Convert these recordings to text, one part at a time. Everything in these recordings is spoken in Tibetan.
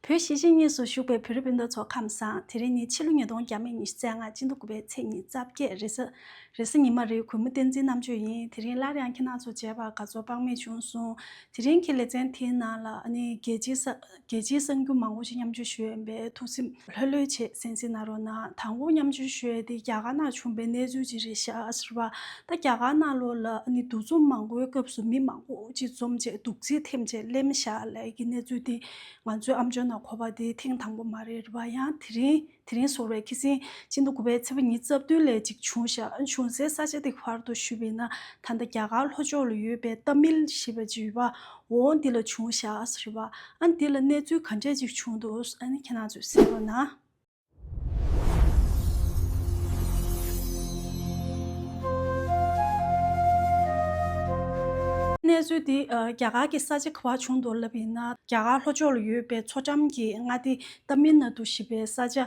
བོད་གཞིས་བྱེས་གཉིས་སུ་བཞུགས་པའི་བོད་རིགས་སྤུན་ཟླ་ཚོ་ཁམས་བཟང་དེ་རིང་ནི་ཕྱི་ལོ་ཉིས་སྟོང་བརྒྱ་མེད་ཉི་ཤུ་རྩ་ལྔ་སྤྱི་ཟླ་དགུ་པའི་ཚེས་ཉིས་རྩ་བརྒྱད་རེས་གཟའ་ཉི་མ་རེའི་གུས་མོ་བསྟན་འཛིན་རྣམ་དཔྱོད་ཡིན་དེ་རིང་སླར་ཡང་ཁྱེད་རྣམས་ཚོ་མཇལ་བར་དགའ་ཚོར་དཔག་མེད་བྱུང་གསུངས་དེ་རིང་གི་ལེ་ཚན་དེའི་ནང་ལ་ནི་རྒྱལ་སྤྱིའི་གསར་འགྱུར་མང་བོ་ཞིག་མཉམ་སྤྱོད་ཞུས་ཡོད་པས་ཐུགས་སེམས་ལྷོད་ལྷོད་བྱེད་སེམས་སེ་ན་རོ་ན་དང་པོ་མཉམ་སྤྱོད་ཤོད་དེ་རྒྱ་གར་ནང་བྱུང་པའི་གནས་ཚུལ་ཅི་རེད་ཤག་ཟེར་བ་ད་རྒྱ་གར་ནང་ལོ་ལ་ནི་འདུ་འཛོམས་མང་པོའི་སྐབས་སུ་མི་མང་པོ་ཅིག་འཛོམས་རྗེས་སྡུག་རྩིས་ཐེམས་ཆེད་གླེན་བཤགས་ལས་ཀྱི་གནས་ཚུལ་དེ་ང་ཚོའི་ཨམ་ཅོན་ན་གོ་བ་དེ་ཐེངས་དང་པོ་མ་རེད་བ་ཡང་དེ་རིང་དེ་རིང་ཟོར་བའི་ཁི་སིང་ཅི་འདུག་དགུ་བའི་ཚེ་བ་ཉིན་རྩ་བདུན་ལས་ཅིག་བྱུང་ཤག་བྱུང་སའི་ས་ཆ་དེ་བར་དུ་ཞུ་བས་ན་ད་ལྟ་རྒྱ་གར་ལྷོ་ཕྱོགས་ལ་ཡོད་པའི་ཏཱ་མིལ་ཞེས་པ་བྱིས་བ་འོ་འདི་ལ་བྱུང་བཞག་རེད་བ། ཨ་འདི་ལ་གནས་ཚུལ་ག་འདྲས་ཅིག་བྱུང་འདུག་ཨ་ནི་ཁྱེད་རང་ཚོས་གསལ་རོགས་གནང། གནས་ཚུལ་འདི་རྒྱ་གར་གྱི་ས་ཆ་ག་བར་བྱུང་འདུག་ལབ་ཡིན་ན། རྒྱ་གར་ལྷོ་ཕྱོགས་ལ་ཡོད་པའི་མཚོ་འགྲམ་གྱི་མངའ་སྡེ་ཏཱ་མིལ་ནཱ་དུ་ཞེས་པའི་ས་ཆ།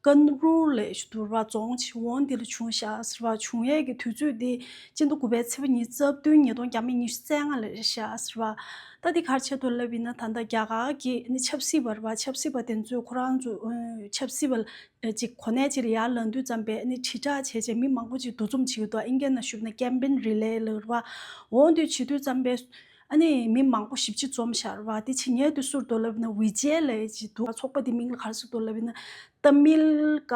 ཀན་རུའུ་ལའི་ཞུ་དུར་བ་རྫོང། འོ་འདི་ལ་བྱུང་བཞག་ཟེར་བ་བྱུང་ཡས་ཀྱི་དུས་ཚོད་འདི། སྤྱི་འདུ་དགུ་པའི་ཚེས་པ་ཉིན་རྩ་བདུན་ཉིས་སྟོང་བརྒྱ་མེད་ཉི་ཤུ་རྩ་ལྔ་ལ་རེ་ཞག་ཟེར་བ། ལྟ་འདི་གར་ཆེད་དུ་བསླབ་ཡིན་ན་ད་ལྟ་རྒྱ་གར་གྱི་ནི་ཆབ་སྲིད་པར་བ་ཆབ་སྲིད་པ་དེ་ཚོས་ཁོ་རང་ཚོ་ཆབ་སྲིད་པ་ཅིག་གོ་གནས་ཅིག་ལ་ཡར་ལངས་དུས་ཙམ་པས་ནི་དྲིལ་བསྒྲགས་བྱས་རྗེས་མི་མང་པོ་ཅིག་འདུ་འཛོམས་བྱེད་ཡུལ་དུ་ཨིན་སྐད་ནང་ཞུགས་ན་ཀེམ་པེན་རི་ལས་ལ་རུ་བ་འོང་དུས་བྱེད་དུས་ཙམ་པས། ཨ་ནི་མི་མང་པོ་ཞིབ་ཅིག་འཛོམས་ཤར་བ་དེ་ཕྱི་ཉལ་དུ་བསུར་དོ་ལབ་ན་བྷི་ཇེ་ལའི་ཅི་འདུག་ཚོགས་པ་དེ་མིང་ལ་གར་སོ་དོ་ལབ་ན་ཏཱ་མིལ་ཀ་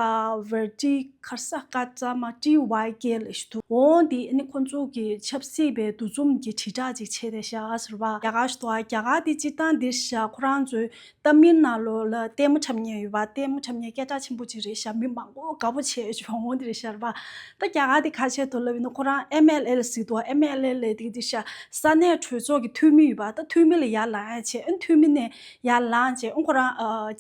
བྷར་ཏི་ཁར་ས་ཀ་ཙ་མ་ཏི་བྷི་ཇེ་ལའི་ཞེས་འདུག་འོ་འདི་ཨ་ནི་ཁོ་ཚོ་གི་ཆབ་སྲིད་པའི་འདུ་འཛོམས་ཀྱི་དྲིལ་བསྒྲགས་ཅིག་བྱས་ཏེ་བཞག་ཟེར་བ། རྒྱ་གར་ཟེར་བ་རྒྱ་གར་དེ་སྤྱིར་བཏང་འདིར་བཞག་ཁོ་རང་ཚོའི་གཏམ་མི་སྣ་ལོ་ལ་ལྟད་མོ་འཁྲབ་ཉེན་ཡོད་པ་ལྟད་མོ་འཁྲབ་ཉེན་སྐད་གྲགས་ཆེན་པོ་གཅིག་རེད་ཞབས་མི་མང་པོ་དགའ་པོ་བྱས་བྱུང་ངོ་འདིར་ཤར་བ་ད་རྒྱ་གར་དེ་ཁ་ཆེ་དུ་ལབ་ཡོད་ན་ཁོ་རང་ཨེམ་མེ་ལེ་ལ་གཟིགས་འདུག་ཨེམ་མེ་ལེ་ལས་དེ་འདིར་ཤར་ས་གནས་གྲོས་ཚོགས་ཀྱི་འཐུས་མི་ཡོད་པ་ད་འཐུས་མི་ལ་ཡར་ལངས་ཡས་བྱས་ཨེ་འཐུས་མི་ནས་ཡར་ལངས་བྱས་ཨེ་ཁོ་རང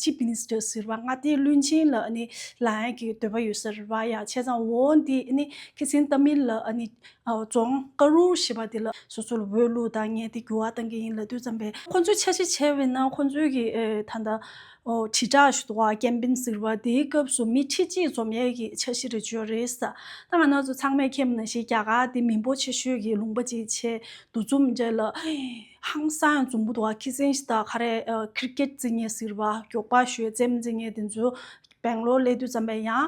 Chief Minister ཟེར་བ་ང་དེ་བླུན་ཆེན་ལ་ནི་ལངས་ཡས་ཀྱི་འདོད་པ་ཡོད་ཟེར་བ་ཡ་བྱས་ཙང་འོ་འདི་ནི་ཁེ་སིན་གཏམ་མི་ལ་ནི་རྫོང། ཀ་རུ་ཞེས་པ་འདི་ལ་སོ་སོ་ལ་འོས་བླུགས་དང་ངས་དེ་འགྱུར་བ་གཏང་གི་ཡིན་ལབ་དུས་བརྩམས་པས། ཁོ་ཚོས་འཆར་གཞི་བྱས་པའི་ནང་ཁོ་ཚོའི་གི་ད་ལྟ། དྲིལ་བསྒྲགས་ཞུ་དོགས་ཀེམ་པིན་ཟེར་བ་དེའི་སྐབས་སུ་མི་ཁྲི་གཅིག་འཛོམས་ཡས་ཀྱི་འཆར་གཞི་རེ་བྱོས་རེད་ས། ད་ང་ནག་ཚོ་ཚང་མས་ཁེམ་ན་ཞིག་རྒྱག་ག་དེ་མི་འབོ་ཆེ་ཤོས་ཀྱི་ལུང་པ་ཅིག་བྱས་འདུག་འཛོམས་འདྲེ་ལ། ཧང་སང་འཛོམས་པོ་འདུག་ཁི་སིང་ཞིག་དང་ཁ་རས་ཁིར་ཀེད་རྩིས་ངེས་ཟེར་བ་མགྱོགས་པ་ཞོད་འཛེམ་རྩིས་ངེས་དེ་ཚོས། སྦེང་ལོར་སླེབས་དུས་བརྩམས་པས་ཡང།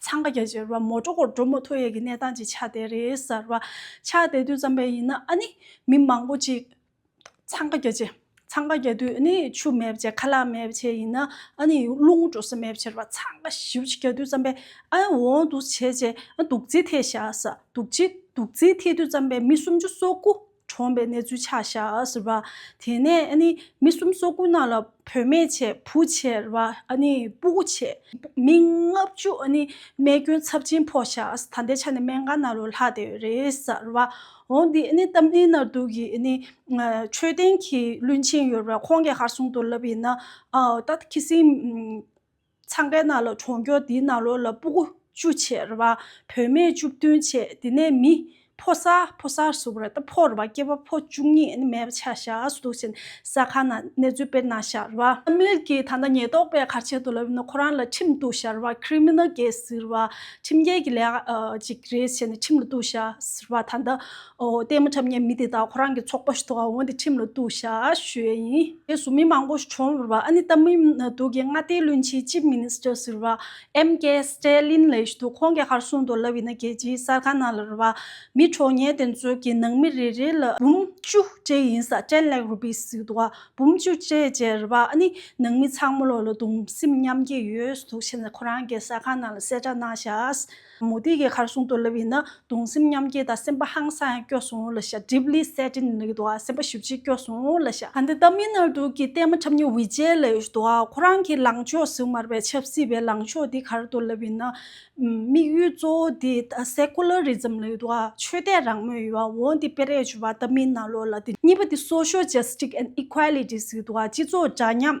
འཚང་ཁ་རྒྱ་ཆེར་བ་མོ་ཀྲོ་ཀོར་ཀྲོ་མོ་ཐོ་ཡས་ཀྱི་གནས་སྟངས་ཅིག་ཆགས་བསྡད་རེད་གསར་བ། ཆགས་བསྡད་དུས་ཙམ་པས་ཡིན་ན་ཨ་ནི་མི་མང་པོ་ཅིག། འཚང་ཁ་རྒྱ་ཆེ། འཚང་ཁ་རྒྱ་དུས་ཨ་ནི་ཆུ་མེད་བྱས་ཁ་ལག་མེད་བྱས་ཡིན་ན་ཨ་ནི་རླུང་འགྲོ་ས་མེད་བྱས་བ་འཚང་ཁ་ཞིབ་ཅིག་རྒྱ་དུས་ཙམ་པས་ཨ་འོང་འདུག་བྱས་བྱས་ཨ་འདུག་རྩིས་ཐེ་བཞག་ས་འདུག་རྩིས་འདུག་རྩིས་ཐེ་དུས་ཙམ་པས་མི་སུམ་ཅུ་སོ་དགུ། གྲོངས་པའི་གནས་ཚུལ་ཆགས་ཤག་ཟེར་བ། དེ་ནས་མི་གསུམ་སོ་དགུ་རྣམས་ལ་བུད་མེད་ཆེ་བུ་ཆེ་ཟེར་བ། སྤུ་གུ་ཆེ། མི་ལྔ་བཅུ་རྨས་སྐྱོན་ཚབས་ཆེན་ཕོག་ཤག་ད་ལྟའི་ཆ་ནས་སྨན་ཁང་ནང་རུ་ལྷག་བསྡད་ཡོད་རེད་ཟེར་བ། འོ་འདི་རྟ་མགྲིན་རྣ་གདུགས་ཀྱི་མཆོད་རྟེན་གྱི་བློན་ཆེན་ཡོད་རེད་ཁོང་གི་ཧར་སྲུང་དུ་ལབ་ཡིན་ན། ད་ཁི་སིང། ཚང་ཁའི་ནང་ལ་གྲོང་ཁྱོག་དེའི་ནང་ལོགས་ལ་སྤུ་གུ་བཅུ་ཆེ་རེ་བ་བུད་མེད་བཅུ་བདུན་ཆེ་དེ་ནས་མི་ཕོ་ས་ཕོ་ས་ཟུར་བ་རེ་ད་ཕོ་རེ་བ་སྐྱེས་པ་ཕོ་བཅུ་གཉིས་ནི་མེད་པ་ཆ་བཞག་སུ་འདུག་ཅེ་ན་ས་ཁང་ནང་གནས་ཚུལ་དཔེར་ན་ཞག་རེ་བ། ཨ་མིར་གྱིས་ད་ལྟ་ཉེས་རྟོག་པས་གར་བྱེད་དུ་ལབ་ཡོད་ན་ཁོ་རང་ལ་ཁྲིམས་གཏུགས་ཞག་རེ་བ Criminal Case ཟེར་བ་ཁྲིམས་འགལ་གྱི་ལས་ཀ་ཅིག་རེད་ཅེ་ན་ཁྲིམས་ལ་གཏུགས་ཞག་ཟེར་བ་ད་ལྟ་ལྟད་མོ་འཁྲབ་ཉེས་མི་དེ་དག་ཁོ་རང་གི་ཚོགས་པ་ཞུ་དག་འོང་སྟེ་ཁྲིམས་ལ་གཏུགས་ཤ་ཞུ་ཡས་ཡིན། རྗེས་སུ་མི་མང་པོ་ཞིག་བྱུང་བར་ཨ་ནི་ཏཱ་མི་འདུག་གི་མངའ་སྡེའི་བློན་ཆེན Chief Minister ཟེར་བ MK Stalin ལས་ཞུ་དུ་ཁོང་གི་ཧར་སུན་དུ་ལ་བྷི་ན་རྒྱལ་སྤྱིའི་གསར་ཁང་ནང་ལར་བ་མི་གྲོགས་ངན་དེ་ཚོའི་གི་ནང་མི་རེ་རེ་ལ་འབུམ་བཅུ་བཅས་ཡིན་ས Ten Lakh Rupees ཟེར་དུ་བ་འབུམ་བཅུ་བཅས་བཅས་ར་བ་ཨ་ནི་ནང་མི་ཚང་མོ་ལོ་ལ་གདུང་སེམས་མཉམ་སྐྱེད་ཡོས་སུ་དུག་ཆེ་ན་ཁོ་རང་གི་གསར་ཁང་ནང་ལ་གསལ་བསྒྲགས་གནང་ཤ། མུ་ཏིག་གི་ཁར་གསུང་རྟོགས་ལབ་ཡིན་ན་གདུང་སེམས་མཉམ་སྐྱེད་དང་སེམས་དཔའ་ཧང་སངས་སྐྱོ་གསུང་ལ་ཤ་གྲིབ་ལི་སེ་ཏྲིན་རིག་དུ་བ་སེམས་དཔའ་ཞུ་ཅི་སྐྱོ་གསུང་ལ་ཤ། ག་འདི་ལྟ་མི་ནར་འདུག་གི་བསྟན་མ་ཁྲབ་ཉི་འི་རྗེས་ལ་ཡོད་དུ་བ་ཁོ་རང་གི་ལངས་ཕྱོགས་སུ་མར་པའི་ཆབ་སྲིད་པའི་ལངས་ཕྱོགས་འདི་གར་དུ་ལབ་ཡིན་ན། དམིགས་ཡུལ་གཙོ་བོ་འདི Secularism ལ་ཡོད་དུ་བ་ཆོས་དད་རང་མོས་ཡོད་བ་འོ་འདི་པེ་རེས་ཆུ་བ་ལྟ་མི་ནར་ལོ་ལ་འདི་གཉིས་པ་འདི Social Justice and Equality ཟིག་དུ་བ་སྤྱི་ཚོགས་འདྲ་མཉམ།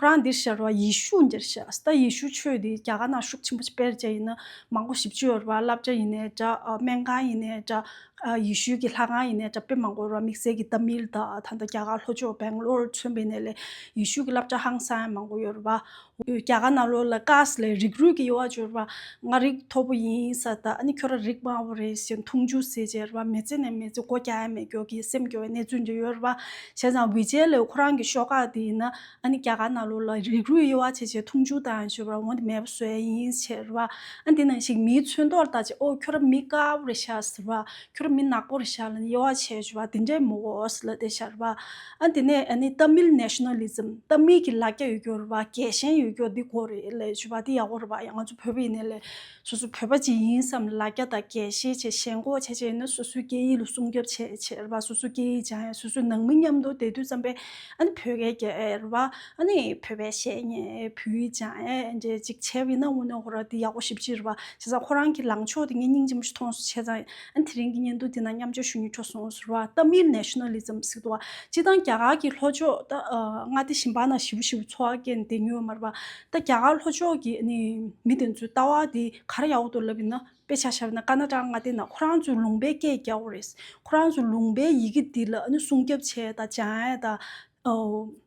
ཁོ་རང་འདིར་ཤར་བ་ཡེ་ཤུ་འདིར་ཤར་ཟླ་ཡེ་ཤུ་ཆོས་འདི་རྒྱ་གར་ན་ཤུགས་ཆེན་པོ་སྤེལ་བྱས་ཡིན་ན་མང་པོ་ཞིབ་བཅོས་རུ་བ་བསླབ་བྱ་ཡིན་ནས་འདྲ་སྨན་ཁང་ཡིན་ནས་འདྲ་ཡེ་ཤུ་གི་ལྷ་ཁང་ཡིན་ནས་འདྲ་དཔེ་མང་པོ་རུ་བ་དམིགས་བསལ་གྱི་ཏཱ་མིལ་ད་ད་ལྟ་རྒྱ་གར་ལྷོ་ཕྱོགས་བེང་ལོར་མཚོན་པའི་གནས་ལས་ཡེ་ཤུ་གི་བསླབ་བྱ་ཧང་སང་མང་པོ་ཡོད་རུ་བ། རྒྱ་གར་ན་ལོ་ལ་ཀཱས་ལས་རིགས་རུས་ཀྱི་ཡོ་བ་བཅོས་རུ་བ་ང་རིགས་མཐོ་པོ་ཡིན་ས་ད་ཨ་ནི་ཁྱོད་ར་རིགས་དམའ་བོ་རེད་ཞེས་འཐུང་ཆུ་བཟས་བྱས་རུ་བ་མེ་ཙེ་ནས་མེ་ཙེ་སྒོ་རྒྱ་ཡ་མེད་སྐྱོ་གི་སེམས་སྐྱོ་བའི་གནས་ཚུལ་འདི་ཡོད་རུ་བ། བྱས་ཙང་བྷི་ཇེ་ལའི་ཁོ་རང་གི་ཤོག་ཁག་དེ་ཡིན་ན་ཨ་ནི་རྒྱ་གར་ནང་ལོགས་ལ་རིགས་རུས་དབྱེ་བ་ཕྱེ་ཕྱེ་འཐུང་ཆུང་དང་ཞོལ་བར་འོང་དེ་མེད་པ་བཟོས་ཡ་ཡིན་ཟེར་བ། ཨ་དེ་ནང་ཞིག་མིའི་ཚོན་མདོག་ལྟ་ཅི་ཨོ་ཁྱོད་ར་མི་དཀར་པོ་རེད་ཤག་ཟེར་བ། ཁྱོད་ར་མི་ནག་པོ་རེད་ཤག་ལ་ནི་དབྱེ་བ་ཕྱེ་ཞོལ་བ་དེ་འདྲས་མོ་ཨོས་ལ་དེ་ཤར་བ། ཨ་དེ་ནས་ཨ་ནི་ཏཱ་མིལ Nationalism ཏཱ་མིལ་གྱི་ལ་རྒྱ་ཡོད་རྒྱུ་རེད་བ་རྒྱལ་ཞེན་ཡོད་རྒྱུ་འདི་གོ་རེད་ལས་ཞོལ་བ་དེ་ཡག་པོ་རེད་བ་ཡང་ང་ཚོ་བོད་པའི་ནས་ལས། སོ་སོ་བོད་པ་ཇི་ཡིན་བསམ་ལ་རྒྱ་དང་རྒྱའི་ཤེས་བྱེད་ཞེན་ཁོག་ཆེ་ཆེ་ཡིན་ན་སོ་སོའི་སྐད་ཡིག་ལ་སྲུང་སྐྱོབ་བྱེད་ཆེད་བ་སོ་སོའི་སྐད་ཡིག་སྦྱང་ཡ་སོ་སོའི་ནང་མི་མཉམ་དུ་བསྡད་དུས་བརྩམས་པའི་ཨ་ནི་བོད་སྐད་རྒྱལ་བ་ཨ་ནི་བོད་པའི་བཤད་ཉེས་བོད་ཡིག་སྦྱང་ཡ་འདྲེ་ཅིག་བྱས་བ་ཡིན་ན་དངོས་གནས་ཧོ་ར་འདི་ཡག་པོ་ཞིབ་ཅིག་རེད་བ་བྱས་ཙང་ཁོ་རང་གི་ལངས་ཕྱོགས་དེ་ངས་སྙིང་རྗེ་མོ་ཞིག་ཐོངས་སུ་ཆས་ཙང་ཨ་ནི་དེ་རིང་གི་བརྙན་ཐུང་འདི་ནང་མཉམ་སྤྱོད་ཞུ་མྱོང་ཆོག་སོང་ཟེར་བ་ཏམ་མིལ Nationalism གཟིགས་འདུག་བ་སྤྱི་བཏང་རྒྱ་གར་གྱི་ལྷོ་ཕྱོགས་ཏང་ཨ་དེ་ཞིམ་པ་ན་ཞི་བོ་ཞི་བོ་འཚོ་བ་སྐྱེལ་ནས་བསྡད་མྱོང་བ་མ་རེད་བ། ད་རྒྱ་གར་ལྷོ་ཕྱོགས་ཀྱི་མི་དེ་ཚོའི་ལྟ་བ་དེ་ག་རེ་ཡག་ཏུ་ལབ་ཡིན་ན་དཔེ་ཆ་ཤར་ན་ཀ་ན་ཀྲ་ང་བལྟས་ན་ཁོ་རང་ཚོའི་ལུང་པའི་སྐད་རྒྱག་པོ་རེད། ཁོ་རང་ཚོའི་ལུང་པའི་ཡི་གེ་འདི་ལ་སྲུང་སྐྱོབ་བྱས་དང་སྦྱང་ཨེ་དང་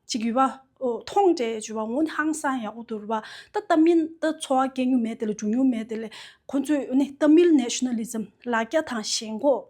ཅིག་ཡོད་པ། མཐོང་འདྲའི་བརྗོད་པ་ངོ་ནི་ཧང་སང་ཡག་པོ་འདུག་རེད་པ། ད་ལྟ་མི་ད་འཚོ་བ་སྐྱེལ་རྒྱུ་མེད་དེ་ལ་འགྲོ་རྒྱུ་མེད་དེ་ལས་ཁོ་ཚོས་ཏཱ་མིལ་ནེ་ཤི་ནལ་ལི་ཛམ་ལ་རྒྱ་དང་ཞེན་ཁོག་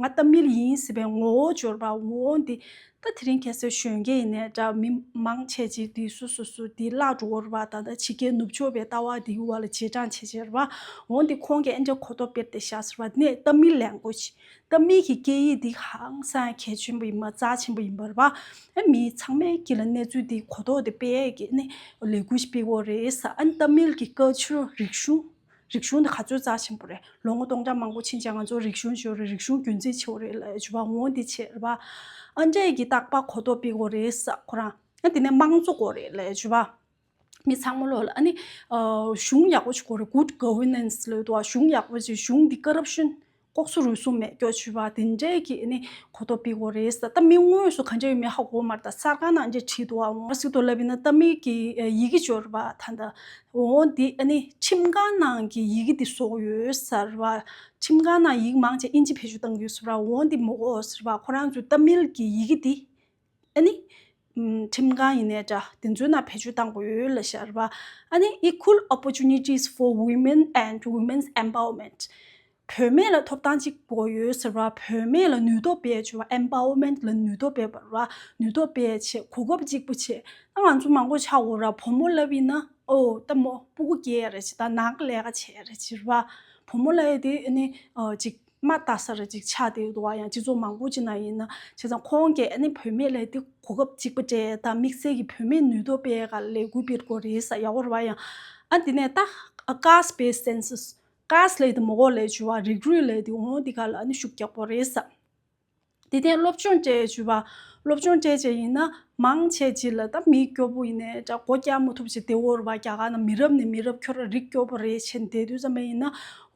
ང་རྟ་མིལ་ཡིན་ཟེར་བའི་ངོ་བོ་འབྱོར་པ་འོ་འདི་ད་དེ་རིང་ཁྱེད་སོད་གཞོན་སྐྱེས་ཡིན་ནས་འདྲ་མི་མང་ཆེ་ཆེ་འདི་སུ་སུ་སུ་འདི་བླ་འགྲོར་བ་ད་ད་ཕྱི་རྒྱལ་ནུབ་ཕྱོགས་པའི་ལྟ་བ་འདིའི་བར་ལ་རྗེས་འབྲང་ཆེ་ཆེར་བ་འོ་འདི་ཁོང་གིས་ཨེ་འདྲ་གོ་ཐོབ་དཔེར་དེ་བཞག་ཟེར་བ་ནས་རྟ་མིལ་ལས་འགོ་ཅི་རྟ་མིལ་གྱི་སྐད་ཡིག་འདི་ཧང་སངས་གལ་ཆེན་པོ་ཡིན་པ་རྩ་ཆེན་པོ་ཡིན་པར་བ་ཨེ་མི་ཚང་མའི་སྐེ་ལ་གནས་ཚུལ་འདི་གོ་ཐོག་དེ་དཔེ་ཡག་གི་ནས་ལས་འགུལ་ཞིག་སྤེལ་འོ་རེད་ས་ཨེ་རྟ་མིལ་གྱི་ཀ་ཆུ་རིག་གཞུང། རིག་གཞུང་དེ་ག་ཚོད་རྩ་ཆེན་པོ་རེད་ལོ་ངོ་སྟོང་ཕྲག་མང་པོ་ཕྱིན་ཅིང་ང་ཚོ་རིག་གཞུང་ཆེ་བ་རེད་རིག་གཞུང་རྒྱུན་འཛིན་ཆེ་བ་རེད་ལ་ཞུ་བ་ངོ་འདི་བྱེད་པ། ཨ་འབྲས་ཀྱི་རྟག་པ་གོ་རྟོགས་སྤེལ་དགོས་རེད་ས་ཁོ་རང་ཨ་དེ་ནས་དམངས་གཙོ་དགོས་རེད་ལ་ཞུ་བ། མི་ཚང་མ་ལོག་ལ་ཨ་ནི། གཞུང་ཡག་པོ་ཞིག་དགོས་རེད Good Governance ལོས་དོ་ཨ་གཞུང་ཡག་པོ་ཞིག་གཞུང་འདི་ཀ་རབ་ཤོན། ལྐོག་ཟུར་རུལ་སུངས་མེད་སྐྱོར་བྱུས་པ་དེ་འདྲས་ཀྱིས་ནི་གོ་རྟོགས་སྤེལ་དགོས་རེད། ད་མིག་ངོས་སུ་གང་ཅི་ཡོད་མེད་ཧ་གོ་མར་ད་གསར་ཁང་ནང་འདྲེ་ཁྲིད་དུ་འོང་བ་ཞིག་ཏུ་ལབ་པས་ན་ད་མིག་གི་ཡི་གེ་འབྱོར་བ་ད་ད་འོང་འདི་ནི་ཁྲིམས་ཁང་ནང་གི་ཡི་གེ་འདི་བཟོ་ཡོད་ཟེར་བ། ཁྲིམས་ཁང་ནང་ཡིག་མང་ཆེ་ཨིན་ཇི་བེད་སྤྱོད་བཏང་ཡོད་ཟེར་བ་འོང་འདི་མོ་གོ་ཟེར་བ་ཁོ་རང་ཚོའི་ད་མིལ་གྱི་ཡི་གེ་འདི་ཁྲིམས་གང་ཡིན་ནས་འདྲ་དེ་ཚོའི་ནང་བེད་སྤྱོད་བཏང་དགོས་ཡོད་ལ་ཤར་བ། Equal Opportunities for Women and Women's Empowerment། བུད་མེད་ལ་ཐོབ་ཐང་གཅིག་དགོས་ཡོད་ཟེར་བ་བུད་མེད་ལ་ནུས་སྟོབས་སྤེལ་བྱེད Empowerment ལ་ནུས་སྟོབས་སྤེལ་བར་ནུས་སྟོབས་སྤེལ་བྱེད་གོ་སྐབས་གཅིག་པུ་བྱེད་ད་ང་ཚོ་མང་པོ་ཆ་བོ་ར་བུ་མོ་ལབ་ཡིན་ན་ཨོ་ལྟ་མོ་སྤུ་གུ་སྐྱེས་ཡ་རེད་ཅེས་ད་ནང་གི་ལས་ཀ་བྱེད་ཡ་རེད་ཅེས་བུ་མོ་ལ་ཡོད་དེ་འི་གཅིག། མ་བལྟ་སར་ཅིག་ཆགས་ཏེ་འདུག་བ་ཡང་སྤྱི་ཚོགས་མང་པོ་ཅིག་ནང་ཡིན་ན་བྱས་ཙང་ཁོང་གིས་ཨ་ནེ་བུད་མེད་ལས་དེ་གོ་སྐབས་གཅིག་པ་སྤྲད་དང་དམིགས་བསལ་གྱི་བུད་མེད་ནུས་སྟོབས་སྤེལ་ག་ལས་དགོས་པའི་སྐོར་རེ་ས་ཡག་བོར་བ་ཡང་ཨ་དེ་ནས་བལྟ། Cast Based Census། Cast ལས་དེ་མོ་འོག་ལས་བྱུང་བ་རིགས་རུས་ལས་དེ་འོང་དེ་ག་ལ་ཨ་ནེ་ཤུགས་རྒྱག་པོ་རེ་ས། དེ་ཐད་སློབ་སྦྱོང་སྤྲད་བྱུས་པ། སློབ་སྦྱོང་སྤྲད་བྱས་ཡིན་ན་མང་ཆེ་བྱིས་ལ་ད་མི་སྐྱོ་པོ་ཡིན་ནས་སྒོ་རྒྱག་མ་ཐུབ་བྱས་དེ་བོར་བ་རྒྱ་གར་ན་མི་རབས་ནས་མི་རབས་ཁྱོད་ར་རིགས་སྐྱོ་པོ་རེད་བྱས་འདས་དུས་ཙམ་མ་ཡིན་ན་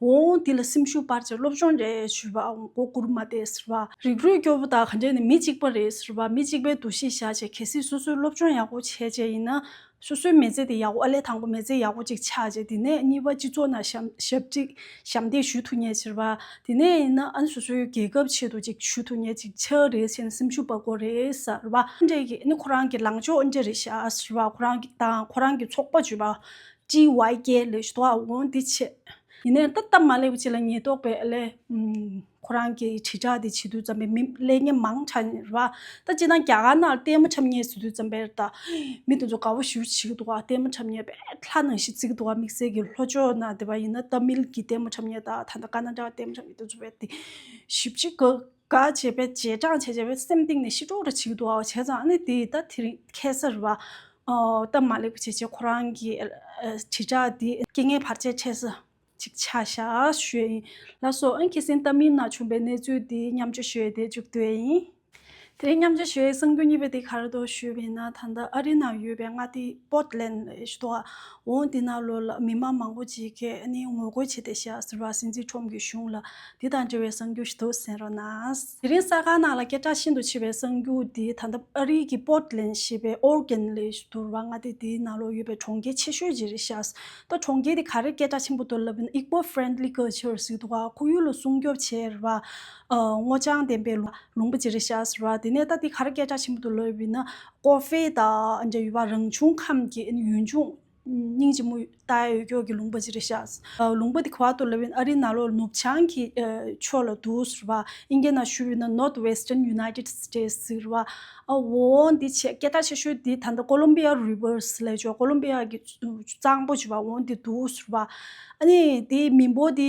འོང་དེ་ལ་སེམས་ཤུགས་སྤར་བྱས་སློབ་སྦྱོང་སྤྲད་བྱུས་པ་འོང་སྒོ་བསྐུར་མ་བསྡད་ཟེར་བ། རིགས་རུས་སྐྱོ་པོ་དག་ག་འདྲས་ནས་མི་གཅིག་པ་རེད་ཟེར་བ་མི་གཅིག་པའི་འདུ་ཤེས་བཞག་བྱས་གལ་སྲིད་སོ་སོའི་སློབ་སྦྱོང་ཡག་པོ་བྱས་བྱས་ཡིན་ན་སོ་སོའི་མེ་བཙའ་དེ་ཡག་པོ་ཨ་ལས་དང་པོ་མེ་བཙའ་ཡག་པོ་ཅིག་ཆགས་རྗེས་དེ་ནས་གཉིས་པ་སྤྱི་ཚོགས་ནང་ཞབས་ཅིག་ཞབས་འདེགས་ཞུ་ཐུབ་ངེས་ཕྱིར་བ། དེ་ནས་ཡིན་ན་ཨན་སོ་སོའི་རྒྱལ་ཁབ་ཆེད་དུ་ཅིག་ཞུ་ཐུབ་ངེས་ཅིག་ཆགས་རེད་ཟེར་ནས་སེམས་ཤུགས་སྤར་དགོས་རེད་ཟེར་བ། འདྲེ་ཀྱིས་ནི་ཁོ་རང་གི་ལངས་ཕྱོགས་འདྲེ་རེད་ཤག་ཟེར་བ་ཁོ་རང་གི་དང་ཁོ་རང་གི་ཚོགས་པ་བརྗོད་པ། TYK ལས་ཞུ་དོགས་འོང་དེ་ཆེད། ཡིན་ནའི་ད་སྟབས་མ་ལེགས་པ་ཅིག་ལ་ཉེས་རྟོག་པས་ཨ་ལས། ཁོ་རང་གི་དྲིལ་བསྒྲགས་དེ་བྱེད་དུས་བརྩམས་པའི་མི་ཀླད་རྙིང་མང་ཆགས་ནས་རེད། ད་ཅི་སྣང་རྒྱ་གར་ནང་ལྟད་མོ་འཁྲབ་ཉེས་བཟོས་དུས་བརྩམས་པའི་རེད། མི་དེ་ཚོ་དགའ་བོ་ཞུ་བྱེད་འདུག་ལྟད་མོ་འཁྲབ་ཉེས་པས་ལྷ་ནང་བཞིན་བརྩིགས་འདུག་དམིགས་བསལ་གྱི་ལྷོ་ཕྱོགས་ན་དེ་བ་ཡིན་ན་ལྟད་མིལ་གྱི་ལྟད་མོ་འཁྲབ་ཉེས་དང་ད་ལྟ་ཀ་ན་ཏྲ་བ་ལྟད་མོ་འཁྲབ་ཉེས་དེ་ཚོ་བས་ཞུ་བྱེད་ག་ག་བྱས་པས་རྗེས་འབྲང་བྱས་བྱས་པས་སེམས་གཏིང་ནས་ཤི་གྲོགས་འདྲ་བྱེད་འདུག་བྱས་ཙང་ཨ་ནི་དེ་ད་དེ་རིང་ཁས་སར་བ། སྟབས་མ་ལེགས་པ་བྱས་བྱས་ཁོ་རང་གི་དྲིལ་བསྒྲགས་དེ་སྐྱེ་ངན་བར་ཆད་འཕྲད་ས། ཅིག་ཆ་བཞག་ཞུས་ཡིན། ལ་སོགས་ཨན་ཁི་སིན་ཏཱ་མིན་ན་བྱུང་པའི་གནས་ཚུལ་འདི་མཉམ་སྤྱོད་ཞུས་ཏེ་མཇུག་བསྡུས་ཡིན། དེ་མཉམ་སྤྱོད་ཞུས་གསང་རྒྱུ་གཉིས་པ་དེ་གར་དུ་ཞུས་པ་ཡིན་ན་ད་ལྟ་ཨ་རི་ན་ཡོད་པའི་མངའ་སྡེ་པོརྟ་ལན་ལས་ཞུ་དོགས་འོང་དེ་ན་ལོ་ལ་མི་དམངས་མང་པོ་ཅིག་གིས་ནི་ངོ་རྒོལ་བྱས་ཏེ་བཞག་ཟེར་བ་སྲིད་འཛིན་ཁྲོམ་གྱི་གཞུང་ལ་དེ་དང་འབྲེལ་བའི་གསང་རྒྱུ་ཞིག་འདུག་ཟེར་ན། དེ་རིང་གསར་ཁང་ནང་ལ་སྐད་གྲགས་ཤིན་ཏུ་ཆེ་བའི་གསང་རྒྱུ་འདི་ད་ལྟ་ཨ་རི་གི་པོརྟ་ལན་ཞེས་པའི་ཨོར་གན་ལས་ཞུ་དོར་བ་མངའ་སྡེ་དེའི་ནང་ལོ་ཡོད་པའི་གྲོང་ཁྱེར་ཆེ་ཤོས་ཅིག་རེད་བཞག་ཏོ་གྲོང་ཁྱེར་དེ་ག་རེར་སྐད་གྲགས་ཆེན་པོ་ཐོབ་ལབ་ན Igbo Friendly Culture ཟེར་འདུག་ག་ཁོར་ཡུག་ལ་སྲུང་སྐྱོབ་བྱེད་རེད་བ། སྔོ་ལྗང་ལྡན་པའི་ལུང་པ་ཇི་རེ་ཤག་ཟེར་བ་དེ་ནས་ད་དེ་ག་རེ་སྐད་གྲགས་ཆེན་པོ་ཐོབ་ལབ་ཡིན་ན་ཀོ་ཧྥེ་དང་འབྲེལ་བ་རང་བྱུང་ཁམས་ཀྱི་ཡུལ་ལྗོངས་སྙིང་རྗེ་མོ་ཏཱའི་འོས་སྐྱོར་གྱི་ལུང་པ་ཇི་རེ་ཤག་ཟེར་ལུང་པ་དེ་ག་བ་ཐོབ་ལབ་ཡིན་ཨ་རིའི་ན་ལོ་ནུབ་བྱང་གི་ཕྱོགས་ལ་འདུག་ཟེར་བ་ཨིན་ཀེ་ན་ཤུལ་བོད་ན North Western United States ཟེར་བ་འོ་འོ་འདི་ཆེས་སྐད་གྲགས་ཆེ་ཤོས་དེ་ད་ལྟ་ཀོ་ལོམ་པི་ཡ Reverse ལས་ཆོག་ཀོ་ལོམ་པི་ཡ་གི། གཙང་པོ་བྱེད་པ་འོང་དེ་འདུག་ཟེར་བ། དེ་མི་འབོར་དེ་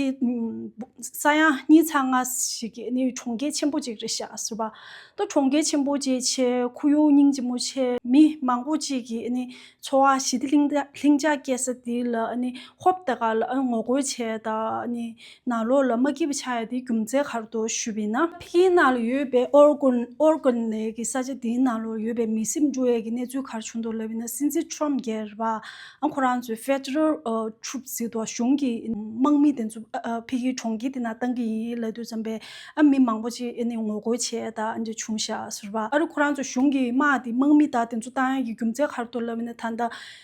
ས་ཡ་གཉིས་ཚ་ལྔ་ཞིག་གི་གྲོང་ཁྱེར་ཆེན་པོ་ཅིག་རེད་བཞག་ཟེར་བ། ད་གྲོང་ཁྱེར་ཆེན་པོ་ཅིག་ཆེ་ཁུ་ཡུང་སྙིང་རྗེ་མོ་ཆེ་མི་མང་པོ་ཅིག་གི་འཚོ་བ་ཞི་བདེ་ལྷིང་འཇགས་སྐྱེལ་ས་དེ་ལ་ཧོབ་ལྟ་ག་ལ་ངོ་རྒོལ་བྱས་དང་ནག་ལོགས་ལ་མ་སྐྱིད་པ་ཆགས་ཡོད་དེ་རྒྱུ་མཚན་ག་རུ་འདུག་ཞུས་པས་ན། ཕི་ཀིན་ནང་ལ་ཡོད་པའི་ཨོར་གོན་ལེ་གི་ས་ཆ་དེའི་ནང་ལོགས་ཡོད་པའི་མི་སེམས་འགྲུལ་ཡས་ཀྱི་གནས་ཚུལ་ག་རུ་བྱུང་འདུག་ལབ་པས་ན་སྲིད་འཛིན་ཁྲོམ་རྒྱལ་བ་ཁོ་རང་ཚོའི Federal Troops ཟེར་འདུག་གཞུང་གི་དམག་མི་དེ་ཚོ་ཕི་ཀིན་གྲོང་ཁྱེར་དེ་ནང་བཏང་གི་ཡིན་ལབ་དུས་བརྩམས་པས་ཨ་མི་མང་པོ་ཅིག་ཨ་ནི་ངོ་རྒོལ་བྱས་ད་ཨ་འདྲ་བྱུང་ཞག་ཟེར་བ་ཨ་རུ་ཁོ་རང་ཚོའི་གཞུང་གི་དམག་དེ་དམག་མི་དག་དེ་ཚོ་བཏང་ཡོད་ཀྱི་རྒྱུ་མཚན་ག་རུ་འདུག་ལབ་པས་ན་ད་ལྟ་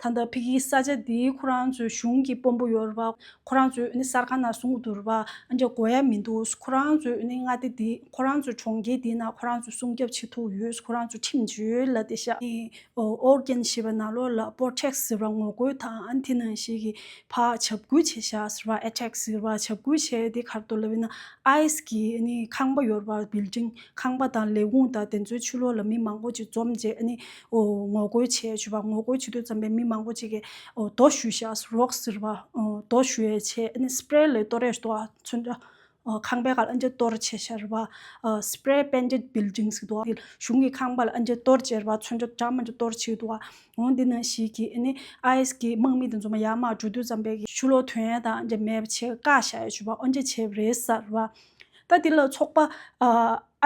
ད་ལྟ་བྷི་ཀིའི་ས་ཆ་འདིའི་ཁོ་རང་ཚོའི་གཞུང་གི་དཔོན་པོ་ཡོད་རེད་པ། ཁོ་རང་ཚོའི་གསར་ཁང་ནང་སྲུང་གི་འདུག་རེད་པ། འོན་ཀྱང་དགོས་ཡ་མི་འདུག་ཁོ་རང་ཚོའི་མངའ་སྡེ་འདི་ཁོ་རང་ཚོའི་གྲོང་ཁྱེར་འདི་ནང་ཁོ་རང་ཚོའི་སྲུང་སྐྱོབ་བྱེད་ཐུབ་ཡོད་ཁོ་རང་ཚོའི་ཁྲིམས་བཅོལ་ལ་དེ་ཤ Organ ཞེས་པ་ནང་ལོགས་ལ Protect ཟེར་བ་ངོ་རྒོལ་དང་དེ་ནང་བཞིན་གྱི་བར་བྱབ་བགོས་བྱེད་ཤ་ཟེར་བ Attack ཟེར་བ་བྱབ་བགོས་བྱས་དེ་ཁར་དོ་ལ་བས་ན Ice གི་ཁང་པ་ཡོད་རེད་པ Building ཁང་པ་དང་ལས་ཁུངས་དང་དེ་ཚོའི་ཆུ་ལོགས་ལ་མི་མང་པོ་ཅིག་འཛོམས་རྗེས་ངོ་རྒོལ་བྱས་བྱུས་པ་ངོ་རྒོལ་བྱེད་དུས་ཙམ་པའི་མི་མང་པོ་ཅིག་གིས་རྡོ་ཞུ་བཞག་རོགས་ཟེར་བ་རྡོ་ཞུ་ཡས་ཆས Spray ལས་གཏོར་ཡས་ཟློག་ཚུན་འདྲ་ཁང་པའི་ཁ་ལ་ཨ་མཆན་གཏོར་བྱས་བཞག་ར Spray painted buildings གི་ཟློག་གཞུང་གི་ཁང་པ་ལ་ཨ་མཆན་གཏོར་བྱས་ར་ཚུན་འདྲ་དྲ་མ་འདྲ་གཏོར་བྱས་ཟློག་འོང་འདི་ནང་ཞིག་གིས IS གི་དམག་མི་དེ་ཚོ་མ་ཡར་མར་འགྲོ་དུས་ཙམ་པའི་ཆུ་ལོག་དོན་ཡས་དང་འདྲ་མེད་པ་ཆེ་བཀག་བཞག་ཡས་བྱུས་པ་ཨོ་མཆན་བྱས་བ་རེད་ཟེར་ར་ད་འདི་ལ་ཚོགས་པ་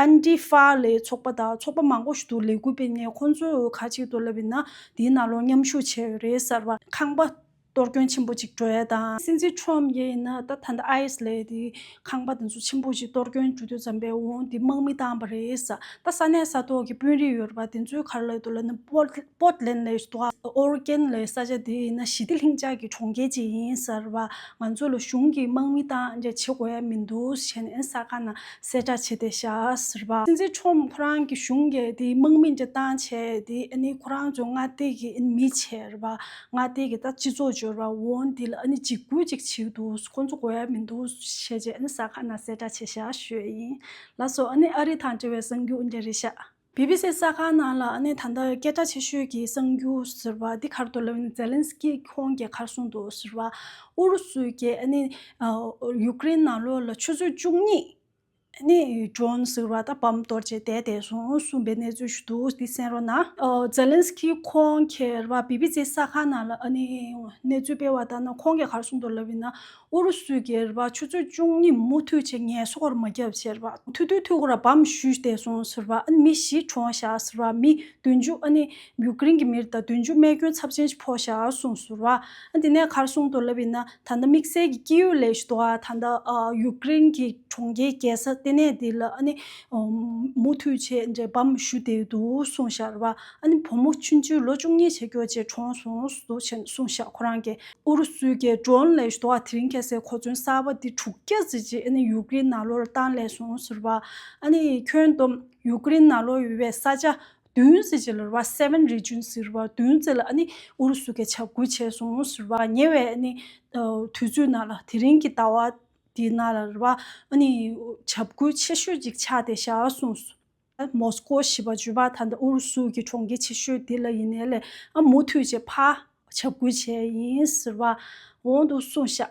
ཨན་ཏི་ཧྥ་ལའི་ཚོགས་པ་དང་ཚོགས་པ་མང་པོ་ཞིག་ཏུ་ལས་འགུལ་སྤེལ་ནས་ཁོང་ཚོས་ཁ་གཅིག་ཏུ་ལབ་ཡོད་ན་དེའི་ནང་ལོགས་མཉམ་ཞུགས་བྱས་ཡོད་རེད་གསར་བ་ཁང་པ་གཏོར་སྐྱོན་ཆེན་པོ་གཅིག་འགྲོ་ཡ་དང། སྲིད་འཛིན Trump ཡས་ཡིན་ན་ད་ཐ་ན IS ལས་དེ་ཁང་པ་དེ་ཚོ་ཆེན་པོ་གཅིག་གཏོར་སྐྱོན་འགྲོ་དུས་ཙམ་པས་འོང་དེ་དམག་མི་བཏང་བ་རེད་ད་ས་གནས་ས་ཐོག་གི་དཔོན་རིགས་ཡོད་པ་དེ་ཚོའི་གར་ལ་དུ་ལ་ནི་པོ། པོར་ལེན་ལས་ལྟོ་བར་རྐྱེན་ལས་ས་ཆ་དེ་ཡིན་ན་ཞི་བདེ་ལྷིང་འཇགས་ཀྱི་གྲོང་ཁྱེར་ཅིག་ཡིན་ཟེར་བ་ང་ཚོ་ལ་གཞུང་གིས་དམག་མི་དང་འབྲེལ་བྱེད་དགོས་ཡ་མི་འདུག་བྱས་ནས་ས་ཁ་ན་གསལ་བསྒྲགས་བྱས་ཏེ་བཞག་ཟེར་བ། སྲིད་འཛིན་ཁྲོམ་ཁོ་རང་གི་གཞུང་གི་དེ་དམག་མི་འབྲེལ་སྟངས་བྱས་དེ་ནི་ཁོ་རང་ཚོ་མངའ་སྡེ་གི་མི་བྱེར་བ་མངའ་སྡེ་གི་ད་སྤྱི་ཚོགས་འབྱོར་བ་འོང་དེ་ལ་འཇིགས་སྐུལ་ཅིག་བྱེད་འདུག་ཁོ་ཚོ་དགོས་ཡ་མི་འདུག་བྱས་རྗེས་ས་ཁ་ན་གསལ་བསྒྲགས་བྱས་བཞག་ཞོས་ཡིན་ལ་སོགས་ཨ་རི་དང་འབྲེལ་བའི་གསང་རྒྱུ་འདྲ་རེ་བཞག། བྷི་བྷི་སི་གསར་ཁང་ནང་ལ་ཨ་ནེ་ད་ལྟ་སྐད་གྲགས་ཆེ་ཤོས་ཀྱི་གསར་འགྱུར་ཟེར་བ་འདི་གར་འདུག་ལབ་ཛེ་ལན་སི་ཀི་ཁོང་གི་གར་སོང་འདུག་ཟེར་བ། ཨུ་རུ་སུའི་རྒྱལ་ཨ་ནེ། ཡུ་ཀེ་རེན་ནང་ལོགས་ལ་ཆུ་ཚོད་བཅུ་གཉིས། ཨ་ནེ། འབྱོན་ཟེར་བ་ད་བམ་གཏོར་རྗེས་བསྡད་བསྡད་སོང་གསུངས་པའི་གནས་ཚུལ་ཞིག་འདུག་འདི་གསན་རོགས་གནང། ཛེ་ལན་སི་ཀི་ཁོང་གིས་རེ་བ་བྷི་བྷི་སི་གསར་ཁང་ནང་ལ་ཨ་ནེ། གནས་ཚུལ་སྤེལ་བ་ལྟར་ན་ཁོང་གི་གར་སོང་འདུག་ལབ་ཡིན་ན། ཨུ་རུ་སུའི་སྒེར་པ་ཆུ་ཚོད་བཅུ་གཉིས་མུ་མཐུད་ཆེད་ངལ་གསོ་སྒོར་མོ་བརྒྱབ་ཟེར་བ། ཐུག་དུས་ཐུག་ར་བའམ་བཞུད་བསྡད་སོང་ཟེར་བ། ཨ་ནི་མི་བཞི་གྲོངས་བཞག་ཟེར་བ། མི་བདུན་ཅུ་ཨ་ནི་ཡུ་ཀེ་རིན་གྱི་མིར་ད་བདུན་ཅུ་རྨས་སྐྱོན་ཚབས་ཆེན་ཞིག་ཕོག་བཞག་སོང་ཟེར་བ། ཨ་དེ་ནས་གར་སོང་དུ་ལབ་ཡིན་ན་ད་ལྟ་དམིགས་བསལ་གྱི་སྐྱེས་ཡུལ་ལས་ཞུ་དོགས་ཨ་ད་ལྟ་ཡུ་ཀེ་རིན་གྱི་གྲོང་ཁྱེར་རྒྱལ་ས་ལྟེ་གནས་དེ་ལ་ཨ་ནི་མུ་མཐུད་ཆེད་འབྲེལ་བའམ་བཞུད་བསྡད་འདུག་སོང་ཞར་བ། ཨ་ནི་བུ་མོ་ཆུང་ཆུང་ལོ་བཅུ་གཉིས་ཆེ་གྱུར་རྗེས་གྲོངས་སོང་འདུག་ཅེས་གསུངས་བཞག་ཁོ་རང་གིས་ཨུ་རུ་སུའི་རྒྱལ་སྒྲོན་ལས་ཟློག་དེ་རིང་གལ་སྲིད་གོ་མཚོན་གསར་པ་འདི་དྲུག་བརྒྱ་བརྩིས་རྗེས་ཨ་ནི་ཡུག་རིན་ནཱ་ལོར་བཏང་སླད་སོང་ཟེར་བ། ཨ་ནི་ཁྱོད་དུམ་ཡུག་རིན་ནཱ་ལོ་ཡོད་པའི་ས་ཆ་བདུན་བརྩིས་རྗེས་ལོར་བ Seven Region ཟེར་བ་བདུན་བརྩིས་ལ་ཨ་ནི་ཨུ་རུ་སུ་གས་ཆ་བགོས་བྱས་སོང་ཟེར་བ་ཉེ་བའི་ཨ་ནི་དུས་ཚོད་ནང་ལ་དེ་རིང་གི་ཟླ་བ་འདི་ནང་ལ་ལོར་བ་ཨ་ནི་ཆ་བགོས་ཆེ་ཤོས་གཅིག་ཆགས་ཏེ་བཞག་སོང་ཟེར། མོ་སི་ཀོ་ཞེས་པ་བརྗོད་པ་ད་ལྟ་ཨུ་རུ་སུ་གྱི་གྲོང་ཁྱེར་ཆེ་ཤོས་དེ་ལ་ཡིན་ནས་ལས་ཨ་མུ་ཐུད་ཅེས་ཕ་བྱབ་བསྐུལ་བྱས་ཡིན་ཟེར་བ་འོང་དུ་སོང་ཤག།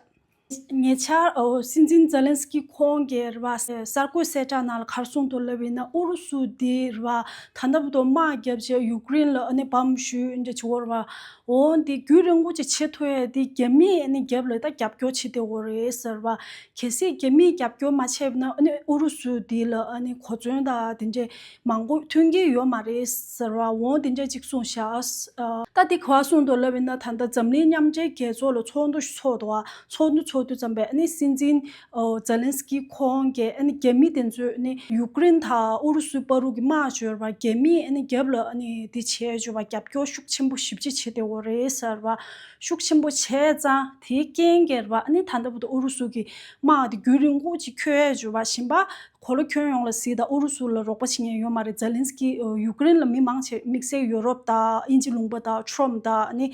ཉེ་ཆར་སྲིད་འཛིན་ཛེ་ལན་སི་ཀི་ཁོང་གིས་རེད་པ་གསར་འགོད་གསལ་བསྒྲགས་ནང་ལ་གར་སོང་དུ་ལབ་ཡིན་ན་ཨུ་རུ་སུ་དེས་རེད་པ་ད་ལྟ་བུ་དོ་དམག་བརྒྱབ་རྗེས་ཡུཀ་རེན་ལ་འོ་ནི་བམ་བཞུས་འདྲ་བྱེད་འོང་རེད་པ། འོ་འདི་རྒྱུད་རིང་པོ་ཅིག་བྱེད་ཐུ་ཡས་འདི་རྒྱ་མིས་ནི་རྒྱབ་ལ་ད་རྒྱབ་སྐྱོར་བྱེད་དེ་འོ་རེད་ཟེར་བ། གལ་སྲིད་རྒྱ་མིས་རྒྱབ་སྐྱོར་མ་བྱས་ན་ཨ་ནི་ཨུ་རུ་སུ་འདི་ལ་ཨ་ནི་གོ་མཚོན་ད་འདི་འདྲའི་མང་པོ་མཐུན་གྱི་ཡོད་མ་རེད་ཟེར་བ་འོ་འདི་འདྲའི་ཅིག་གསུངས་བཞག། ད་འདི་ག་བ་གསུངས་འདུག་ལབ་ཡིན་ན་ད་ད་འཛམ་གླིང་མཉམ་འབྲེལ་རྒྱལ་ཚོགས་ལ་ཚོགས་འདུ་ཚོགས་འདུག་ཚོགས་འདུ་ཚོགས་འདུ་ཙམ་པས་ཨ་ནི་སྲིད་འཛིན་ཛེ་ལན་སི་ཀི་ཁོང་གིས་རྒྱ་མི་དེ་ཚོས་ཡུ་ཀེ་རེན་དང་ཨུ་རུ་སུའི་དཔའ་རུ་གི་སྨྲ་བརྗོད་པར་རྒྱ་མིས་རྒྱབ་ལ་དེ་བྱས་བརྗོད་པར་རྒྱབ་སྐྱོར་ཤུགས་ཆེན་པོ་ཞིབ་ཅིག་བྱེད་དེ་འོ་རེད་ཟེར་བ་ཤུགས་ཆེན་པོ་བྱས་ཙང་དེའི་རྐྱེན་གྱིས་རེད་པ་ད་ལྟ་བུ་དང་ཨུ་རུ་སུ་གི་དམག་དེ་རྒྱུན་རིང་པོ་ཅིག་ཁྱོད་བརྗོད་པ་བཞིན་པ་གོ་ལོ་ཁྱོན་ཡོངས་ལ་སི་དང་ཨུ་རུ་སུ་ལ་རོགས་པ་བྱེད་མཁན་ཡོད་མ་རེད་ཛེ་ལན་སི་ཀི་ཡུ་ཀེ་རེན་ལ་མི་མང་ཆེ་དམིགས་བསལ་ཡུ་རོབ་དང་དབྱིན་ཇི་ལུང་པ་དང་ཁྲོམ་དང་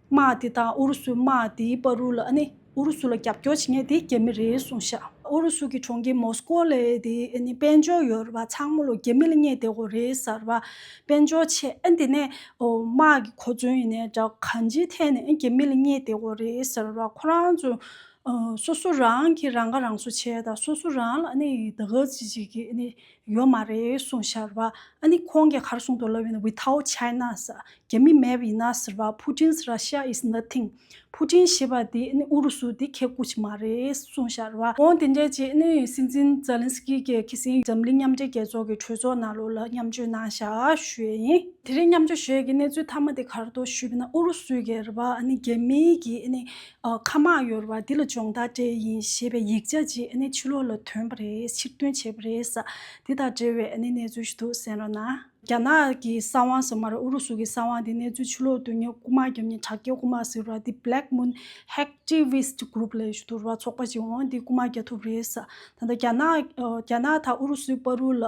དམག་དེ་དང་ཨུ་རུ་སུའི་དམག་དེའི་དཔའ་རུ་ལ་ནི་ཨུ་རུ་སུ་ལ་རྒྱབ་སྐྱོར་བྱེད་མཁན་དེ་རྒྱ་མི་རེད་གསུངས་ཤག། ཨུ་རུ་སུ་གི་གྲོང་ཁྱེར་མོ་སི་ཀོ་ལས་དེ་ནི་དཔལ་འབྱོར་ཡོད་རེད་བ་ཚང་མོ་ལོ་རྒྱ་མི་ལ་བསྙད་བསྡད་གོ་རེད་གསར་བ་དཔལ་འབྱོར་ཆེ་ཨེ་འདི་ནས་དམག་གི་གོ་མཚོན་ཡིན་ནས་འདྲ་གོ་གང་ཅིའི་ཐད་ནས་རྒྱ་མི་ལ་བསྙད་བསྡད་གོ་རེད་གསར་བ་ཁོ་རང་ཚོ་སོ་སོ་རང་གི་རང་ཁ་རང་གསོ་བྱས་དང་སོ་སོ་རང་ལ་ནི་ད་ག་ཅི་བྱེད་ཀྱི་ནི། ཡོད་མ་རེད་གསུངས་ཤར་བ། ཨ་ནི་ཁོང་གིས་གར་གསུངས་འདུག་ལབ་ཡིན་ན Without China ཟེར། རྒྱ་མི་མེད་ཡིན་ན་ཟེར་བ Putin's Russia is nothing། ཕུ་ཏིན་ཞེས་པ་དེ་ཨ་ནི་ཨུ་རུ་སུ་དེ་ཁྱེད་སྐུ་ཅི་མ་རེད་གསུངས་ཤར་བ། ཁོང་དེ་འདྲས་ཀྱིས་ཨ་ནི་སྲིད་འཛིན Zelenskyy ཀྱི་ཁེ་སིང་འཛམ་གླིང་མཉམ་འབྲེལ་རྒྱལ་ཚོགས་ཀྱི་གྲོས་ཚོགས་ནང་ལོགས་ལ་མཉམ་བརྗོད་གནང་ཤག་ཞུས་ཡིན། དེ་རིང་མཉམ་བརྗོད་ཞུས་ཀྱི་གནས་ཚུལ་མཐའ་མ་དེ་གར་དུ་ཞུས་པ་ན་ཨུ་རུ་སུའི་གེར་བ་ཨ་ནི་རྒྱ་མིའི་གིས་ཨ་ནི་མཁའ་མ་གཡོར་བ་འདི་ལ་སྦྱོང་བརྡར་འབྲས་ཡིན་ཞེས་པའི་ཡིག་ཆ་ཅིག་ཆུ་ལོག་ལ་ཐོན་པ་རེད་ཕྱིར་འདོན་བྱས་པ་རེད། དེ་དང་འབྲེལ་བའི་གནས་ཚུལ་ཞིག་འདུག་གསན་རོགས་གནང། རྒྱ་ནག་གི་ས་དབང་ཟེར་མ་རེད་ཨུ་རུ་སུ་གི་ས་དབང་དེ་གནས་ཚུལ་ཆུ་ལོག་དུས་ཉི་དགུ་མ་བརྒྱབ་ཉིན་དྲག་སྐྱེད་དགུ་མ་ཟེར་བ་དེ Black Moon Hacktivist Group ལས་ཞུ་དུར་བ་ཚོགས་པ་ཅིག་འོང་དེ་དགུ་མ་བརྒྱ་ཐུབ་རེད། ད་ལྟ་རྒྱ་ནག་རྒྱ་ནག་དང་ཨུ་རུ་སུའི་པར་རུ་ལ་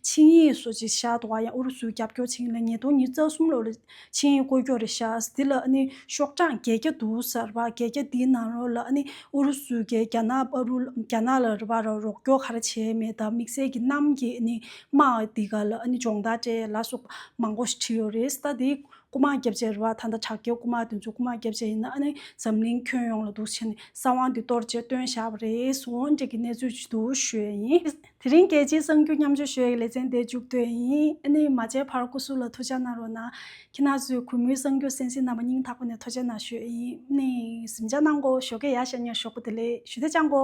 ཆིངས་ཡིག་སོགས་ཅིག་བཞག་འདུག་བ་ཡང་ཨུ་རུ་སུའི་རྒྱབ་སྐྱོར་ཆིངས་ཡིག་ལ་ཉིས་སྟོང་ཉིས་རྩ་གསུམ་ལོར་ལས་ཕྱི་ཡི་སྐོར་སྐྱོད་རེ་བྱ། འདི་ལ་ནི་ཤོག་གྲངས་བརྒྱད་བརྒྱ་འདུག་གསར་པ་བརྒྱད་བརྒྱ་འདི་ནང་རོ་ལ་ནི་ཨུ་རུ་སུའི་རྒྱལ་རྒྱ་ནག་པ་རུ་རྒྱ་ནག་ལ་རུ་བ་ར་རོགས་སྐྱོར་ག་ར་བྱས་མེད་དམ་དམིགས་བསལ་གྱི་གནམ་གྱི་ནི་དམག་འདི་ག་ལ་ནི་སྦྱོང་བརྡར་སྤྲད་ལ་སོགས་པ་མང་པོ་ཞིག་བྲིས་ཡོད་རེད་ད་འདི་སྐུ་དམག་རྒྱབ་ཆས་རུ་བ་ད་ལྟ་དྲག་རྒྱལ་སྐུ་དམག་དེ་ཚོའི་སྐུ་དམག་རྒྱབ་ཆས་ཡིན་ན་ནི་འཛམ་གླིང་ཁྱོན་ཡོངས་ལ་འདུག་བྱས་ནས་ས་དབང་འདི་གཏོར་རྗེས་སྟོན་བཞག་པ་རེད་སོང་འགྲིག་གི་གནས་ཚུལ་ཅིག་འདུག་ཞུས་ཡིན། དེ་རིང་རྒྱལ་སྤྱིའི་གསང་རྒྱུད་མཉམ་སྤྱོད་ཞོལ་ཡིག་ལེ་ཚན་འདི་མཇུག་བསྡོད་ཡིན། ཨ་ནི་མ་བྱས་བར་སྐུ་གཟུགས་ལ་ཐུགས་ཅག་གནང་རོགས་གནང། ཁྱེད་ནག་ཚོས་གུས་མོའི་གསང་རྒྱུད་སེམས་གསེང་རྣམ་པ་སྙིང་ཐག་པ་ནས་ཐོ་ཅལ་གནང་ཞོལ་ཡིན། ཨ་ནི་གཟིམ་ཅག་གནང་གོ་ཞོགས་ཀེ་ཡ་ཤ་ཉེར་ཞོགས་པོ་དེ་ལས་ཞུ་དེ་བཅང་གོ།